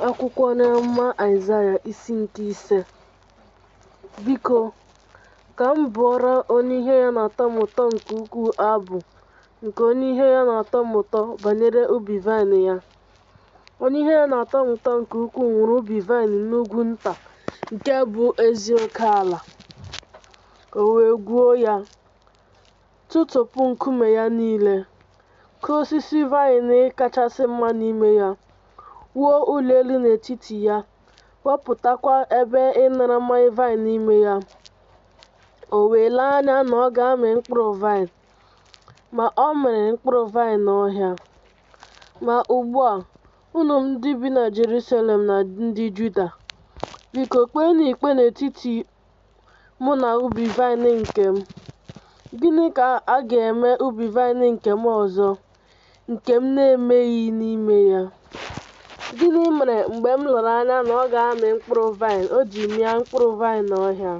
Akwụkwọ onye amụma Aịzaya isi nke ise Biko, ka m bụọrọ onye ihe ya na-atọ m ụtọ nke ukwuu abụ nke onye ihe ya na-atọ m ụtọ banyere ubi vaịnị ya. Onye ihe ya na-atọ m ụtọ nke ukwuu nwere ubi vaịnị n'ugwu nta nke bụ ezi oke ala, o wee gwuo ya, tụtụpụ nkume ya niile, kụọ osisi vaịn kachasị mma n'ime ya, wuo ụlọ elu n'etiti ya, wapụtakwa ebe ịnara mmanya vaịn n'ime ya. O wee lee anya na ọ ga-amị mkpụrụ vaịn, ma ọ mịrị mkpụrụ vaịn ọhịa. Ma ugbu a, unu ndị bi na Jerusalem na ndị Juda, biko kpeenụ ikpe n'etiti mụ na ubi vaịnị nke m? Gịnị ka a ga-eme ubi vaịnị nke m ọzọ, nke m na-emeghị n'ime ya? Gịnị mere mgbe m lere anya na ọ ga-amị mkpụrụ vaịn, o ji mịa mkpụrụ vaịn ọhịa?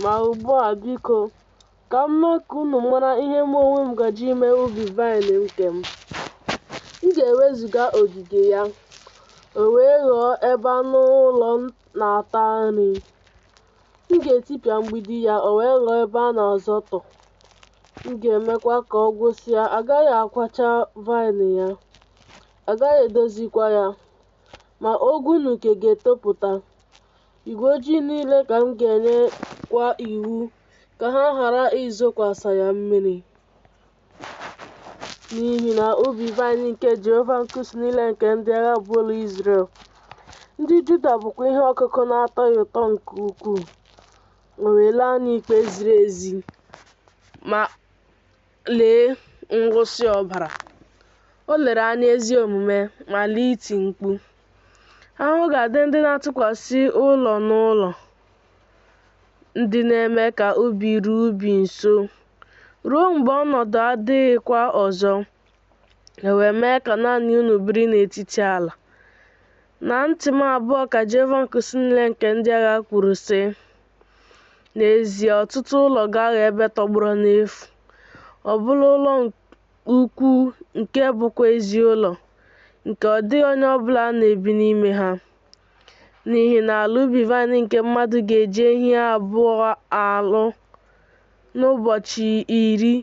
Ma ugbu a, biko, ka m mee ka unu mara ihe mụ onwe m gaje ime ubi vaịn nke m. M ga-ewezụga ogige ya, o wee ghọọ ebe anụ ụlọ na-ata nri. M ga-etipịa mgbidi ya, o wee ghọọ ebe a na-azọtọ. M ga-emekwa ka ọ gwụsịa, a gaghị akwacha vaịn ya, a gaghị edozikwa ya. Ma ogwu na uke ga-etopụta. Igwe ojii niile ka m ga-enyekwa iwu ka ha ghara izokwasa ya mmiri. n'ihi na ubi vaịn nke Jehova nke usu niile nke ndị agha bụ ụlọ Izrel ndị Juda bụkwa ihe ọkụkụ na-atọ ya ụtọ nke ukwuu o wee lee anya ikpe ziri ezi ma lee nwụsị ọbara o lere anya ezi omume ma lee iti mkpu ahụhụ ga-adị ndị na-atụkwasị ụlọ n'ụlọ ndị na-eme ka ubi ruo ubi nso ruo mgbe ọnọdụ adịghịkwa ọzọ e wee mee ka naanị unu biri n'etiti ala na ntị m abụọ ka Jehova nke usu niile nke ndị agha kwuru sị n'ezie ọtụtụ ụlọ ga-aghọ ebe tọgbọrọ n'efu ọbụna ụlọ ukwu nke bụkwa ezi ụlọ nke ọ dịghị onye ọbụla na-ebi n'ime ha N'ihi na ala ubi vaịnị nke mmadụ ga-eji ehi abụọ alụ n'ụbọchị iri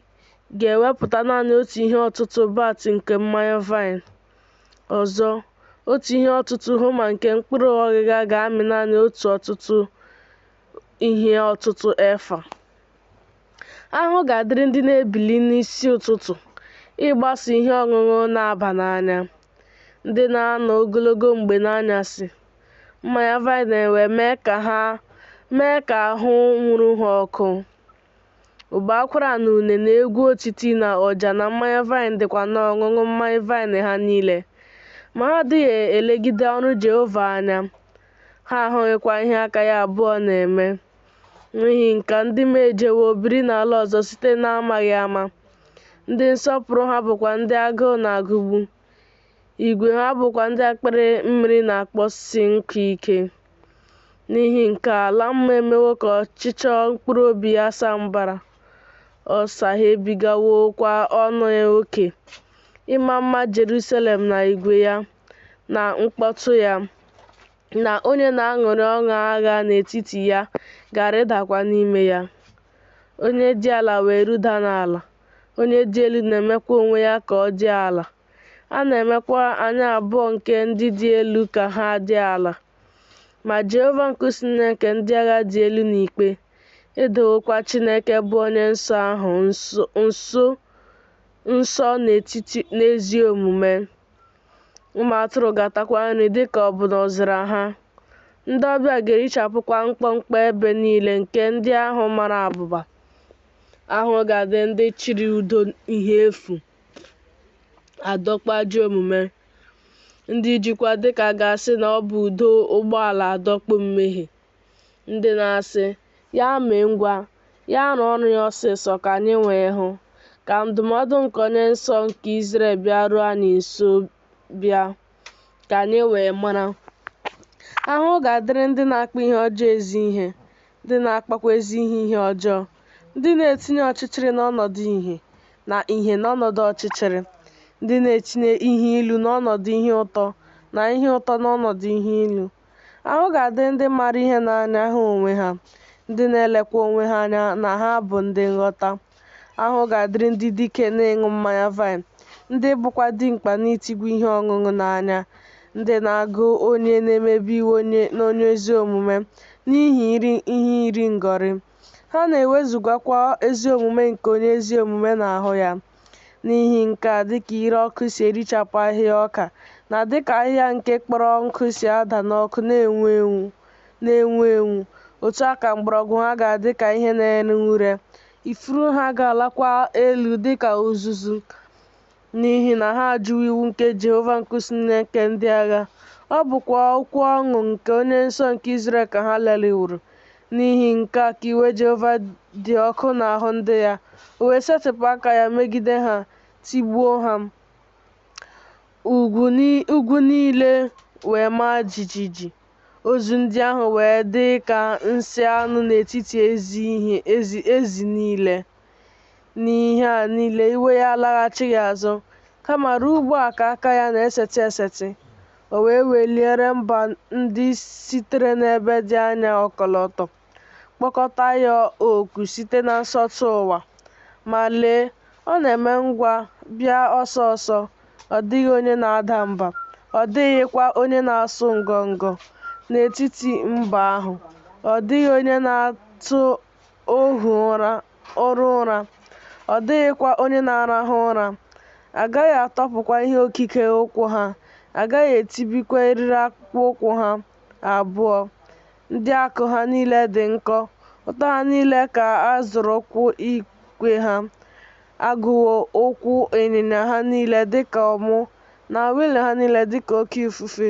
ga-ewepụta naanị otu ihe ọtụtụ bat nke mmanya vaịnị. Ọzọ, otu ihe ọtụtụ homa nke mkpụrụ ọghịgha ga-amị naanị otu ọtụtụ ihe ọtụtụ efa. Ahụhụ ga-adịrị ndị na-ebili n'isi ụtụtụ ịgbaso ihe ọṅụṅụ na-aba n'anya. ndị na-anọ ogologo mgbe n'anyasị, mmanya vaịn wee mee ka ha mee ka ahụ nwuru ha ọkụ. Ụbọ akwara na une na egwu otiti na ọja na mmanya vaịn dịkwa n'ọṅụṅụ mmanya vaịn ha niile. Ma ha adịghị elegide ọrụ Jehova anya, ha ahụghịkwa ihe aka ya abụọ na-eme. N'ihi nke a ndị m ejewo biri n'ala ọzọ site n'amaghị ama, ndị nsọpụrụ ha bụkwa ndị agụụ na-agụgbu, igwe ha bụkwa ndị akpịrị mmiri na-akpọsi nkụ ike. N'ihi nke a ala mmụọ emewo ka ọchịchọ mkpụrụ obi ya saa mbara, ọ saghebigawokwa ọnụ ya oke. Ịma mma Jerusalem na igwe ya na mkpọtụ ya na onye na-aṅụrị ọṅụ agha n'etiti ya ga-arịdakwa n'ime ya. Onye dị ala wee ruda n'ala, onye dị elu na-emekwa onwe ya ka ọ dị ala. A na-emekwa anya abụọ nke ndị dị elu ka ha dị ala. Ma Jehova nke usu niile nke ndị agha dị elu n'ikpe, edowokwa Chineke bụ onye nsọ ahụ nsọ n'etiti n'ezi omume. ụmụ atụrụ ga-atakwa nri dị ka ọ bụ n'ọzara ha. Ndị ọbịa ga-erichapụkwa mkpọmkpọ ebe niile nke ndị ahụ mara abụba. Ahụhụ ga-adị ndị chịrị ụdọ ihe efu adọkpụ ajọ omume. Ndị jikwa dịka a ga-asị na ọ bụ ụdọ ụgbọala adọkpụ mmehie. Ndị na-asị, Ya mee ngwa, ya rụọ ọrụ ya ọsịsọ ka anyị wee hụ, ka ndụmọdụ nke Onye Nsọ nke Izrel bịaruo anyị nso bịa, ka anyị wee mara. Ahụhụ ga-adịrị ndị na-akpọ ihe ọjọọ ezi ihe, ndị na-akpọkwa ezi ihe ihe ọjọọ, ndị na-etinye ọchịchịrị n'ọnọdụ ìhè na ìhè n'ọnọdụ ọchịchịrị, ndị na-etinye ihe ilu n'ọnọdụ ihe ụtọ na ihe ụtọ n'ọnọdụ ihe ilu. Ahụhụ ga-adịrị ndị maara ihe n'anya ha onwe ha, ndị na-elekwa onwe ha anya na ha bụ ndị nghọta. Ahụhụ ga-adịrị ndị dike n'ịṅụ mmanya vaịn, ndị bụkwa dimkpa n'itigwa ihe ọṅụṅụ n'anya, ndị na-agụ onye na-emebi iwu onye na onye ezi omume n'ihi ihe iri ngọrị. Ha na-ewezugakwa ezi omume nke onye ezi omume n'ahụ ya. N'ihi nke a, dịka ire ọkụ si erichapụ ahịhịa ọka, na dịka ahịhịa nke kpọrọ nkụ si ada n'ọkụ na-enwu enwu, na-enwu enwu, otu a ka mgbọrọgwụ ha ga-adị ka ihe na-ere ure, ifuru ha ga-alakwa elu dịka uzuzu, n'ihi na ha ajụwo iwu nke Jehova nke usu niile nke ndị agha, ọ bụkwa okwu ọnụ nke Onye Nsọ nke Izrel ka ha lelịworo. N'ihi nke a ka iwe Jehova dị ọkụ n'ahụ ndị ya, o wee setịpụ aka ya megide ha, tigbuo ha. Ugwu ni- ugwu niile wee maa jijiji, ozu ndị ahụ wee dị ka nsị anụ n'etiti ezi ihe ezi ezi niile. n'ihe a niile iwe ya alaghachighị azụ kama ruo ugbu a ka aka ya na-esetị esetị o wee weliere mba ndị sitere n'ebe dị anya ọkọlọtọ kpọkọta ya oku site na nsọtụ ụwa ma lee ọ na-eme ngwa bịa ọsọ ọsọ ọ dịghị onye na-ada mba ọ dịghịkwa onye na-asụ ngọngọ n'etiti mba ahụ ọ dịghị onye na-atụ ohu ụra, oru ụra, ọ dịghịkwa onye na-arahụ ụra. A gaghị atọpụkwa ihe okike ukwu ha, a gaghị etibikwa eriri akpụkpọ ụkwụ ha abụọ. Ndị akụ ha niile dị nkọ, ụta ha niile ka a zọrọ ụkwụ ikwe ha. A gụwo ụkwụ ịnyịnya ha niile dịka ọmụ, na wịịlụ ha niile dịka oke ifufe.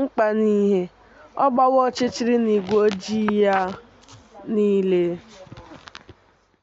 mkpa na ìhè, ọ gbawo ọchịchịrị n'igwe ojii ya niile.